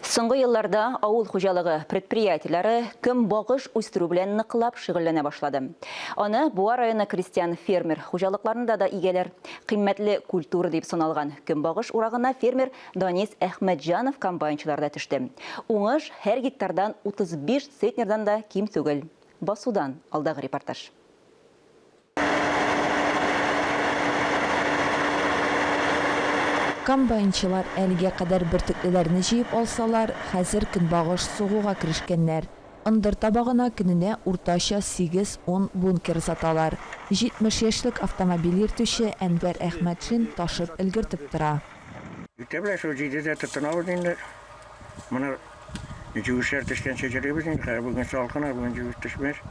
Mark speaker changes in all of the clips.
Speaker 1: Соңгы елларда авыл хуҗалыгы предприятиеләре көнбагыш үстерү белән ныклап шөгыльләнә башлады. Аны Буа районы крестьян-фермер хуҗалыкларында да игәләр. Кыйммәтле культура дип саналган көнбагыш урагына фермер Данис Әхмәтҗанов комбайнчыларда төште. Уңыш һәр гектардан 35 центнердан да ким түгел. Басудан алдагы репортаж.
Speaker 2: Комбайнчылар әлегә кадәр бөртеклеләрне җыеп алсалар, хәзер көнбагыш сугуга керешкәннәр. Ындыр табагына көненә уртача сигез-ун бункер саталар. 70 яшьлек автомобиль йөртүче Әнвәр Әхмәтшин ташып өлгертеп тора. Үтә беләсез,
Speaker 3: җиде дә тотынабыз инде. Моны җүешләр төшкәнче җырлыйбыз инде хәзер. Бүген салкын, бүген җүеш төшмәс.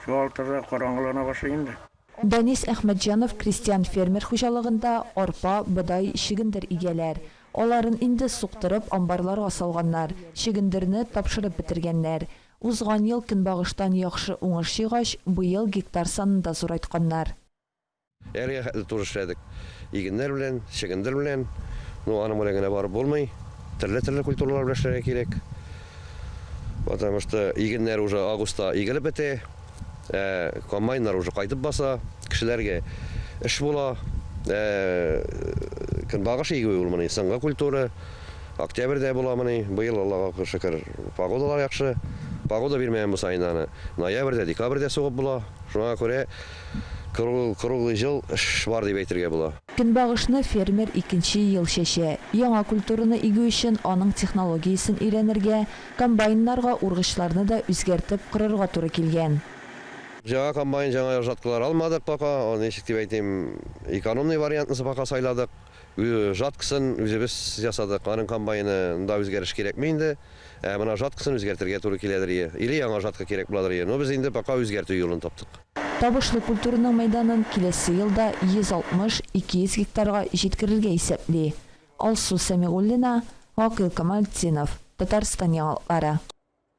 Speaker 3: Шул алтыда караңгылана башлый инде. Данис
Speaker 2: Әхмәтҗанов крестьян-фермер хуҗалыгында арпа, бодай, чөгендер игәләр. Аларын инде суктырып, амбарларга салганнар, чөгендерне тапшырып бетергәннәр. Узган ел көнбагыштан яхшы уңыш җыйгач, быел гектар санын да зурайтканнар. Әлегә
Speaker 4: хәтле туры эшләдек. Игеннәр белән, чөгендер белән. Ну, аның белән генә барып булмый. Төрле-төрле культуралар белән эшләргә кирәк. Потому что игеннәр уже августта игелеп бетә. Ә комбайннар уже кайтып баса. Кешеләргә эш була. Ә көнбагыш игүе ул моны соңгы культура. Октябрьдә була моны. Быел, Аллага шөкер, погодалар яхшы. Погода бирмәгән булса, инде аны ноябрьдә, декабрьдә сугып була. Шуңа күрә. Круглый җыл эш бар дип әйтергә була. Көнбагышны фермер
Speaker 2: икенче ел чәчә. Яңа культураны игү өчен аның технологиясен өйрәнергә, комбайннарга ургычларны да үзгәртеп корырга туры килгән. Җаңа
Speaker 4: комбайн, җаңа җаткылар алмадык пока. Аны ничек дип әйтим, экономный вариантны пока сайладык. Жаткысын үзебез ясадык. Аның комбайны нда үзгәреш кирәкми инде. Ә менә жаткысын үзгәртергә туры киләдер е, или яңа жатка кирәк буладыр е, но без инде пока үзгәртү юлын таптык. Табышлы
Speaker 2: культураның мәйданын киләсе елда 160, 200 гектарга җиткерергә исәпли. Алсу Сәмигуллина, Гакыйл Камалтдинов, Татарстан яңалыклары.